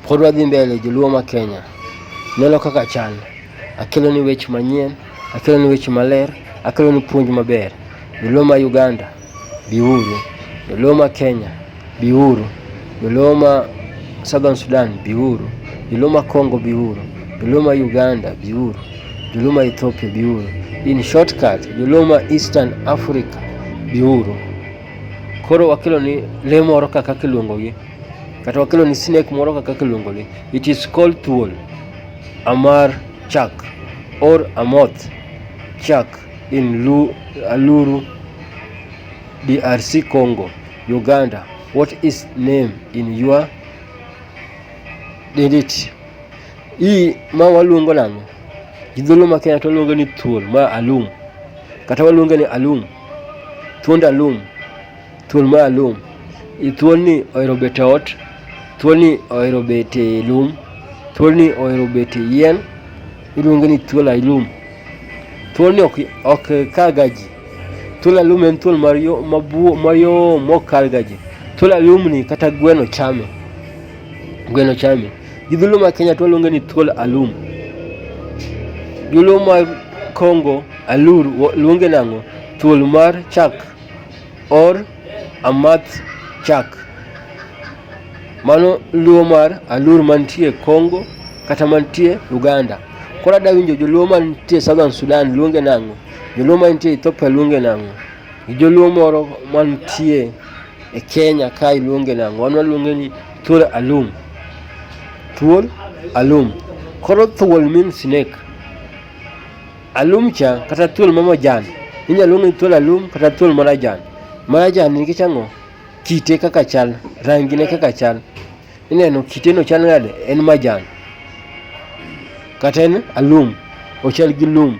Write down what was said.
Pod wadhi mbele joluo ma Kenya. Neno kaka chal. Akelo ni weche manyien, akelo ni weche maler, akelo ni puonj maber. Joluo ma Uganda, biuru. Joluo ma Kenya, biuru. Joluo ma Southern Sudan, biuru. Joluo ma Congo, biuru. Joluo ma Uganda, biuru. Joluo ma Ethiopia, biuru. In shortcut, Joluo ma Eastern Africa, biuru. Koro wakelo ni lee moro kaka kiluongogi kata wakelo ni snake moro kaka kiluongo ni it is called thuol amar chak or amoth chak in Lu, aluru drc congo uganda what is name in your didit hii ma waluongo nang'o gidholo ma kenya to waluongo ni thuol ma alum kata waluongo ni alum thuond alum Thuol ma alum. Thuolni ohero bet e ot, thuolni ohero bet e lum, thuolni ohero bet e yien, iluonge ni thuol alum. Thuolni ok, ok kalga ji. Thuol alum en thuol mayo, mabuo, mayom mok kalga ji. Thuol alumni kata gweno chame. Gweno chame. Gi dholuo ma Kenya to waluonge ni thuol alum. Dholuo ma Kongo alur wo- luonge nang'o? Thuol mar chak. or Amath Chak. Mano luo mar alur mantie Congo kata mantie Uganda. Koro adwa winjo joluo mantie Southern Sudan luonge nang'o? Joluo mantie Ethiopia luonge nang'o? Joluo moro mantie e Kenya kae luonge nang'o? Wan waluonge ni thuol alum. Thuol alum. Koro thuol means snake. Alumcha kata thuol ma majan inyalo luong ni thuol alum kata thuol marajan. Marajan nikech ang'o? Kite kaka chal, rangi ne kaka chal. Ineno kite no chal nade? En majan. Kata en alum, ochal gi lum.